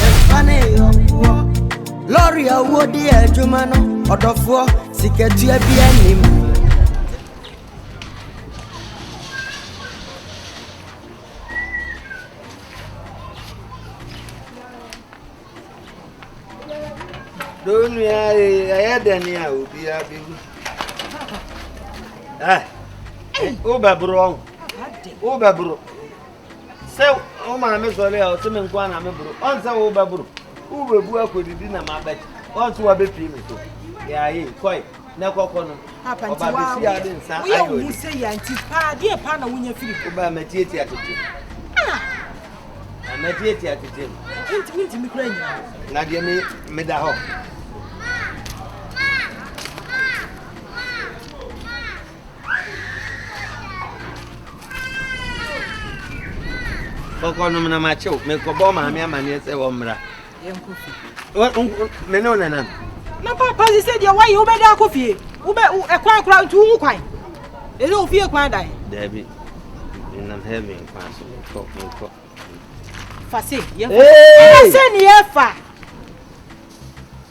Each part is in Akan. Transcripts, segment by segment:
Yɛmfa ne yɔnkoɔ. Lɔre a wodi adwuma no, ɔdɔfoɔ, sikatua bi anim. Donua ee, ɛyɛ dɛn a obiara bɛwu. Ɛ, wobɛboro ɔho. Wobɛboro. Sɛ wo maame sɔre a, ɔse me nko ara na meboro. Ɔn sɛ wobɛboro, wobɛbu akɔdidi na mabɛte. Ɔn sɛ wabɛpie me so. Yaaye, kɔe, na kɔkɔ nom. Papa, nti wa, woyɛ wo ho sɛ yia, nti paa, deɛ paa na wonya firi hɔ? Wobaa matiatia tetem. Ah! Na matiatia tetem. Nti, nti me kura nyina hɔ. Na deɛ me, meda hɔ. kɔkɔ nom na makyew mekɔbɔ maame amanneɛ sɛ wɔmmra me ne wo nanam na papa se sɛ deɛ woayɛ wobɛda akɔ fie ɛkwan kora nti wohu kwan ɛsɛ wo fie kwan dae daabi menam heaven kwan so menkɔ menkɔ fa se yɛfa sɛ ne yɛfa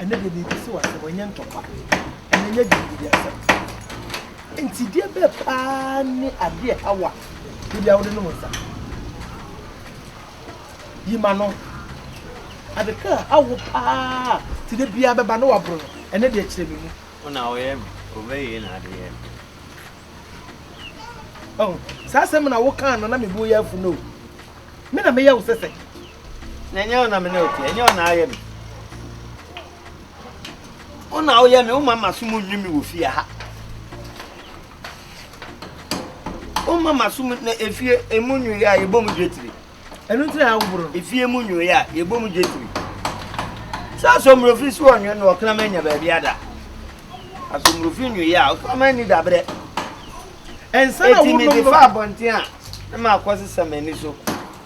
Ɛnnɛ deɛ merebisa wo asɛm, ɛnyɛ ntɔkwa, ɛna ɛnyɛ dwendwene asɛm. Nsideɛ bɛɛ paa ne adeɛ ɛha wo a, bebia wode nom nsa. Yi ma no. Adeka a awo paa ti dɛ biara bɛba na waboro no, ɛnɛ deɛ kyerɛ me mu. Wo na woyɛ me, wobɛwie na ade yɛ me. Oh, saa asɛm na wokaa no na mebo yɛ afu no. Me na meyɛ wo sɛsɛ. Na ɛnyɛ wo na me ne wo te, ɛnyɛ wo na ayɛ me. Wo na woyɛ me, woma m'asom nwi me wɔ fie ha. Woma m'asom na efie emu nwi a yɛbɔ mu dwetiri. Ɛno nti na awoboro. Efie mu nwi a yɛbɔ mu dwetiri. Sɛ asomrofi so ɔnwe no ɔkram anya baabi ada. Asomrofi nwi a ɔkram ani dabrɛ. Ɛnsa na wo nom no. Eti mi de fa abɔnten a, ne ma akɔ sesa m'ani so.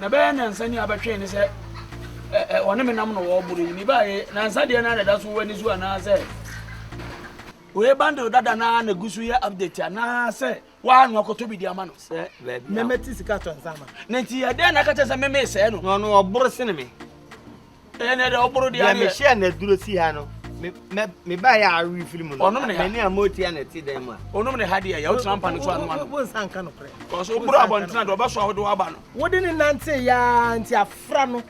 na bɛyɛ nansa ni abɛtwee ne sɛ ɔne me nam na wɔboro yi mebaeɛ nansa deɛ no a na ɛda so wɔ ani so anaasɛ wei bundle dada na na gu so yɛ update anaasɛ waa no akɔtɔ bi de ama no sɛ baabi na mɛte sika tɔ nsa ma na nti ɛdɛn na aka kyɛ sɛ meme sɛɛ no na ɔno ɔboro sene me ɛnɛ dɛ ɔboro deɛ adeɛ. mehyɛ na duro si ha no meba yɛ awe firi mu no mani a motia na ɛte dan mu a ɔnom ne ha deɛ yɛ wotena mpa no so ano ano wonsa nka nokorɛ kɔso woboro abɔntena deɛ ɔbɛso a wode woaba no wode ne nante yɛa nti afra no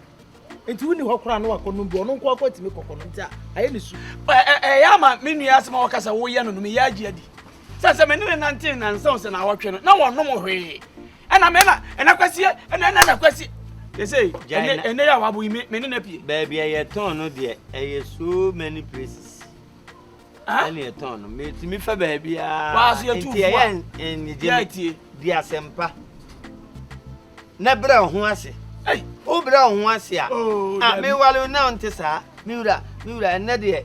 nti wonni hɔ koraa no wakɔ nom bi ɔno nko akɔ atumi kɔkɔ no nti a ayɛ ne su ɛyɛ ama me nua asɛm a wɔka sɛ woyɛ no no meyɛ agye adi sɛ sɛ mene ne nante nansa wo sɛ na awɔtwe no na wɔnom hwee ɛna mɛ na ɛna kwasi ɛna ɛna na kwasi ɛsɛ ɛnɛ ɛnɛ yɛ awabo yi mɛ mɛ ne na pie. baabi a yɛ tɔn no deɛ ɛyɛ so many places ɛna yɛ tɔn no mɛ tumi fɛ baabi aa nti ɛyɛ ɛnigye di asɛmpa na brɛ ɔho ase wo brɛ ɔho ase a a mewale na ɔnte saa me wura me wura ɛnɛ deɛ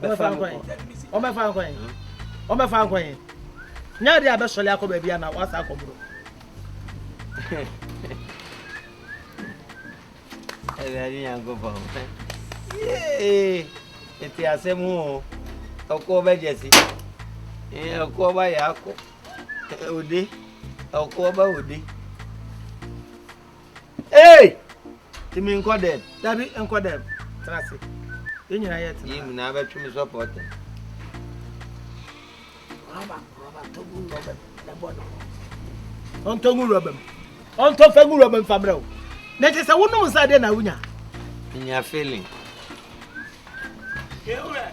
bɛfa nkɔ wɔbɛfa nkɔ yɛn wɔbɛfa nkɔ yɛn nyɛ adeɛ a bɛsɔre akɔ baabi a na wasa akɔ boro awurade nyankopɔn yee ɛte asɛm o ɔkɔ bɛgyɛ si ɔkɔ ba yɛ akɔ ode ɔkɔ ba ode Hey! Ti mi nkɔ dɛm. Dabi nkɔ dɛm. Tena ase. Yɛn nyinaa yɛ tena. Yɛn nyinaa bɛtwe mi sɔpɔ tɛ. Rɔba rɔba togu rɔba na bɔ ne ho. Ɔntɔ ngu rɔba mu. Ɔntɔ fɛ ngu rɔba mu famrɛ o. Na kyɛ sɛ wonom nsa deɛ na wonya. Nya feeling. Ewura.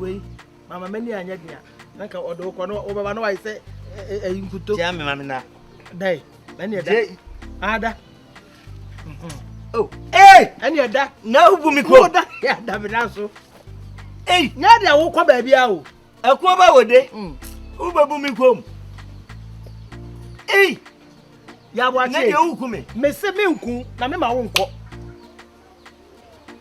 wei mama m'ani anyɛ den a na nka ɔde wokɔ no wobɛba na wayɛ sɛ ɛyi nkuto tia me ma me na dai ɛne ɛda ada o ee ɛne ɛda na wobu me kuro da ɛda me da so ei nyɛ deɛ wokɔ baabi a o ɛkoɔ ba wɔ de mm. wobɛbu me kurom ei yɛaboakye na deɛ woku me mese menku na mema wo nkɔ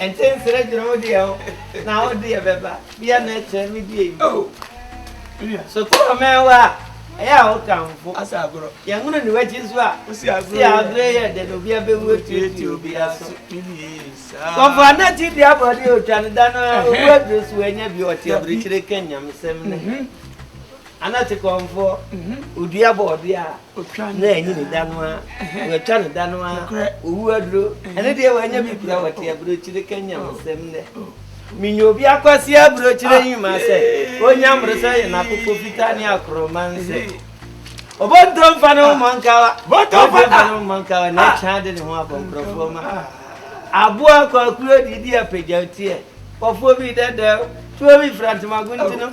Nkyɛ nsrɛ kyerɛ wo deɛ o na wo deɛ bɛba bia na ɛkyɛ me deɛ yi o nua sotɔ ɔmɛn wa a ɛyɛ a wo tamfo asa agorɔ yɛnwono ne wakyi so a si agorɔ yɛ dɛ na obi abɛwu atuatua obi aso kɔfo anati deɛ abɔde ɔtwa no da no owu aduro so wanya bi ɔte abirikyire ka nyamesɛm no Ana te kɔnfoɔ, ɔdua bɔɔdeɛ a na anyi ne da no ara, watwa ne da no ara, ɔwu aduro, ɛno deɛ wanya bi kura wɔte aburokyire ka nyamsɛm nnɛ. Menya obi akwase aburokyire nyima sɛ ɔnya mmoro sɛ yɛ n'akokɔ fitaa ne akorɔma nsɛ. Ɔbɔntɔ mfa ne ho mmɔ nkawa, bɔntɔ mfa ne ho mmɔ nkawa na ɛtwa de ne ho abɔ nkurɔfoɔ ma. Aboa kwakuo didi apagya teɛ, kɔfoɔ bi dɛdɛw, tuo bi fira ntoma guntunu,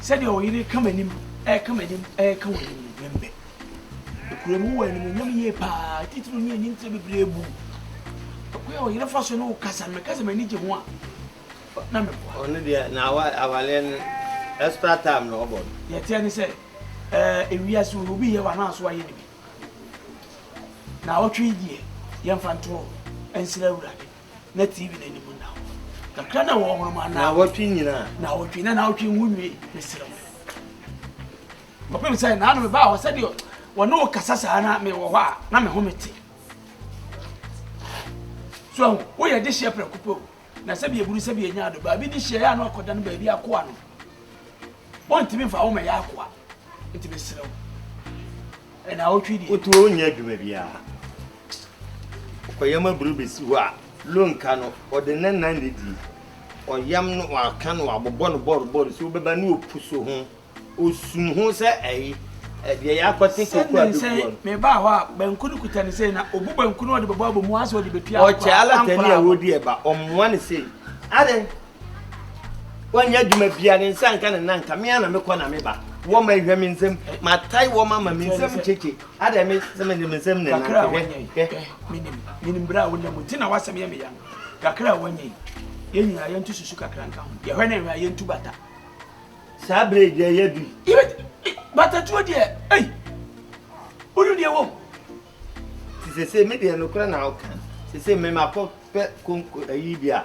Sɛdeɛ wo yere reka m'anim, reka m'anim, reka w'anim no, memmɛ. Nokorɛm wowɔ animuonyam yie pa ara, titiriw ne ani ntrɛ bebree bu wo. Ɛkwan a wo yere fa so ne wo kasa no, meka sɛ m'ani gye ho a, na meboa. Ɔno deɛ, na awa, awareɛ no, extra time na ɔbɔ no. Deɛ ɛteɛ ne sɛ, ɛɛ, ewiase wei, obi yɛ wo anaa so wayɛ no bi? Naawɔtwe yi deɛ, yɛmfa nto hɔ nsrɛ Awurade. na TV no anim nna hɔ. Kakra na wɔwɔ hɔ ma naawɔtwe nyinaa. Naawɔtwe na naawɔtwe ho nwie mesrɛ wo. Kɔpem sɛ naano mebaa hɔ sɛdeɛ wɔne wo kasa saa na mewɔ hɔ a na me ho mete. So ahu woyɛ de hyɛ prɛko pɛ o na sɛbi eburu sɛbi enya ado baabi de hyɛ yɛ ano akɔda no baabi akoa no. Wɔntumi mfa wo ma yɛ akoa nti mesrɛ wo. Ɛna wotwe deɛ. Wotu wo nyɛ adwuma biara. Ɔyam aburo bɛsi hɔ a, lonka no, ɔde ne nan na ɛdi. Ɔyam no, wɔaka no, wɔabobɔ no bɔrobɔro sɛ wobɛba ne ɔpu so ho. Ɔsum ho sɛ ayi, deɛ ɛyɛ akɔte kooko a bɛgu hɔ no. Mebaa hɔ a, banku no kuta no sei, na ɔbu banku no ɔde bɛbɔ abɔ mu asɛ ɔde bɛtua ankoraa. Ɔkyɛ alatani a wɔdi ɛba, ɔmmoa no sei. Adɛn? Wanyɛ adwuma bia, ne nsa nka ne nan nka, me ara na mekɔ na meba. Wɔma ɛhwɛ me nsam, matae wɔma ma me nsam kyekye. Adɛn me sɛ me de me nsɛm na ɛnante hwɛ hwɛ. Menim menim bere a wonam mu nti na w'asɛm yɛ me ya no. Kakra a wɔnyɛ yi, yɛn nyinaa yɛnto susu kakra nka ho. Yɛhwɛ ne nhwɛ a yɛntu bata. Saa bere yi deɛ yɛ bi. Batatuo deɛ, ei, wonim deɛ wom. Ti sese me deɛ nokora na woka. Sese me makɔ pɛ konko ayi bi a.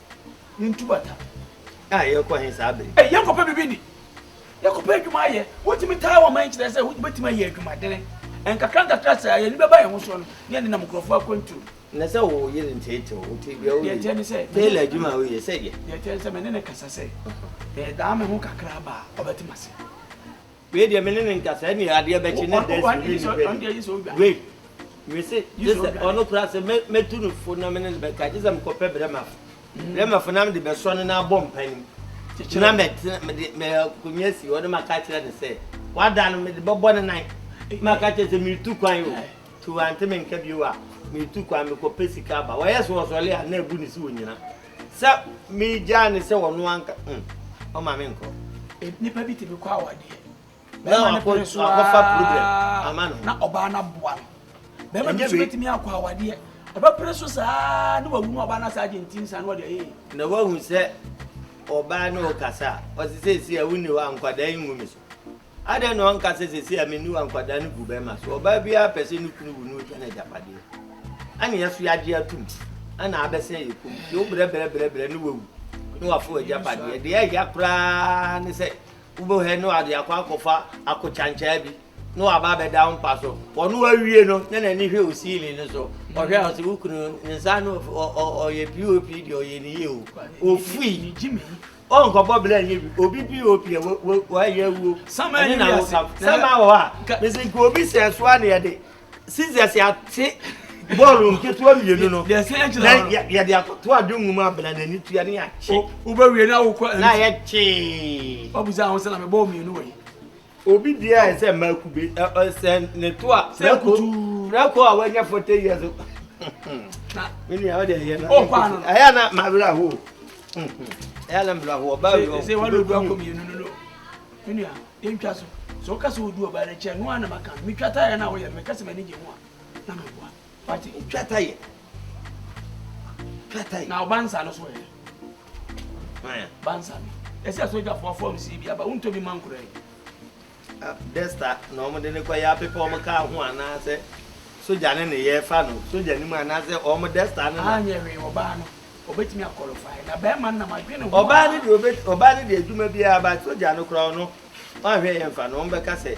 Ne ntubata a yɛkɔ he saa bere. Ɛ, yɛkɔpɛ biribi di. Yɛkɔpɛ adwuma ayɛ. Wotumi taa wɔn ma nkyerɛ sɛ wobetumi ayɛ adwumadene. Nkakra nkakra saa, yɛn ani bɛba yɛn ho soɔ no, ne yɛn nenam nkurɔfoɔ akwantuo. Na sɛ wo yere nteetee wo, ɔte bia wo Deɛ ne sɛ. Tailor adwuma a woyɛ, sɛdeɛ. Deɛ ɛteɛ ne sɛ, me ne no kasa sɛ, Medaa me ho kakra baa, ɔbɛte m'ase. Wei deɛ me ne no nkasa ɛneɛ adeɛ bɛkye na da si ne nipa ni wei me se gye sɛ ɔno koraa sɛ mɛtu no fo na me ne no bɛka gye sɛ mekɔpɛ brɛmafo mm. brɛmafo na mede bɛsɔ no na abɔ mpanim na mɛkonya si hɔ ne maka kyerɛ no sɛ wada no mede bɛbɔ ne nan eh. maka kyerɛ sɛ metu kwan o eh. nti wante menka bio a metu kwan mekɔpɛ sika aba wɔyɛ sɛ wɔsɔle a na abu ne si ɔnyina Sɛ megyaa no sɛ ɔno anka mm, ɔma menkɔ. Nipa bi tumi kɔ awadeɛ. Na wakɔfa problem ama no. Na ɔbaa no aboa no. Bɛrima bi nso bɛtumi akɔ awadeɛ. Ɔbɛpere so saa na wawu na ɔbaa no asa agye nti nsa na ɔde ee. Na wahu sɛ ɔbaa no rekasa a, ɔse seesei a wonni hɔ a nkwadaa yi ngu me so. Adɛn na ɔnka sɛ, Seesei a menni hɔ a nkwadaa no gu bɛmma so, ɔbaa biara pɛ sɛ ne kunu wu na ɔtwa n'agyapadeɛ. Ɛnna yɛn nso yɛagye atom, ɛnna abɛsɛn yɛn kɔn mu. Sɛ wobrɛ brɛ brɛ brɛ na wawu na wafa w'agyapadeɛ, deɛ ɛhia koraa ne sɛ wobɛhwɛ na wɔde akɔ akɔfa akokyankyɛɛ bi na waba abɛda wo mpa so. Ɔno awie no na n'ani hwɛ wo siilin no so, ɔhwɛ a ɔsɛ wo kunu ne nsa no ɔyɛ pop deɛ ɔyɛ ne yie o, ofui. O nkɔ bɔ bla nye bi obi pop ɛ wa yɛ awuo ɛne na wo ka sama wɔ hɔ a mesi nka obi sɛ ɛso a na yɛde scissors ate bɔɔlo nketewa mmienu no na yɛde akɔto adwongu mu abena na ani tua ne yɛakye wobɛwie na wokɔ na yɛkyee wabusa ho sɛ na mebɔɔ mmienu wɔ yi Obi biara yɛ sɛ mmaa kube, sɛ ne to a prɛko prɛko a wanya forty years. Me nua ɔde ɛyɛ na ɛyɛ na ma werɛ aho. Ɛyɛ na mmerɛ aho ɔbaa wi ɔbɛdu aho. Me nua yɛntwa so sɛ woka sɛ wodu ɔbaa no akyɛ no a na maka no metwa taeɛ no a woyɛ no meka sɛ m'ani gye ho a na meboa wate wotwa taeɛ kɛtɛn. na ɔba nsa no so ɛ ba nsa no ɛsɛ ɛsɛ ɔgyafoɔ fɔm si bi aba wontɔ bi ma nkora yi. desta na wɔn de ne kɔ yɛ apepa wɔn kaa ho anaasɛ sogya ne ne yɛ fa no sogya ne mu anaasɛ wɔn desta no na. anyɛ hwee ɔbaa no ɔbɛtumi akɔlɔfae na bɛrima no nam adwene ho. ɔbaa no deɛ ɔbaa no deɛ adwuma biara ba sogya no koraa no wɔn ahwɛ yɛn fa no wɔn bɛka sɛ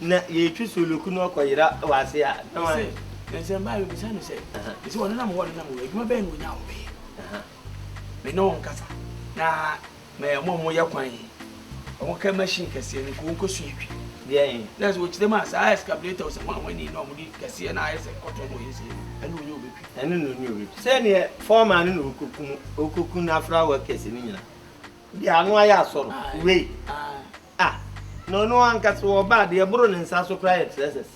Na yɛretwi sooloku na ɔkɔyera wɔ ase a, na wɔn ayɛ. Nanso mmaa bi bisa no sɛ, ɛsɛ wɔn nenam hɔ wɔn nenam hɔ adwuma bɛyɛ na wɔnya wɔn bɛyɛ. Me ne wɔn kasa na mɛ wɔn a wɔyɛ kwan yi wɔn kɛ machine kɛseɛ no kɔ wɔn kɔ su yɛ twi. Deɛ yɛn. Na sɛ wɔkyerɛ mu a saa excavator sɛ wɔn a wɔn ani na wɔn de kɛseɛ na ayɛ sɛ kɔtɔ na wɔyɛ nsɛm ɛne wɔn nyɛ wɔn bɛtwi. Ɛne na wɔn nyɛ wɔn bɛtwi. Sɛ neɛ fɔɔma no na ɔkɔku no ɔkɔku n'afra wɔkɛse no nyina. Deɛ ano ayɛ asɔrɔ wei. A, na ɔno ankasa wɔ ɔba a deɛ ɛboro ne nsa so koraa yɛ trɛsɛs.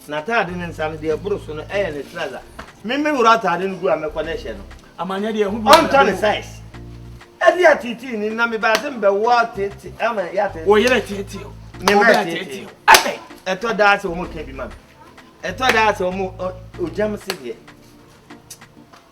N'ataade ne nsa no, deɛ ɛboro so no yɛ ne trɛsa. Me me wura ataade no gu a mɛkɔ ne hyɛ no. Amanyɛ deɛ ɛho bi wɔ Ɔntɔ ne sais. Ɛde ateetee ni na mebaa se mebɛwɔ teete ama yɛ ateetee. Wo yere teetee o. Me ma teetee o. Ɛbɛn. Ɛtɔ daa sɛ wɔn ka bi ma me. Ɛtɔ daa sɛ wɔn ogyam se deɛ.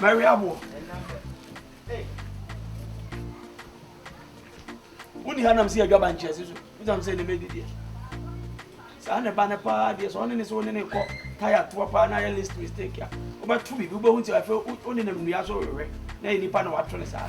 Mary aboɔ. Woni ha nam si adwa ba nkyɛn si so. Wosam sɛ ne mɛdi deɛ. Saa ne ba ne paa deɛ sɛ ɔne ne sɛ ɔne ne kɔ taya toa paa na ayɛ list mistake a wobɛto biribi wobɛhu nti afei wone nam nnua so wewɛ na yɛ nipa na wato ne saa.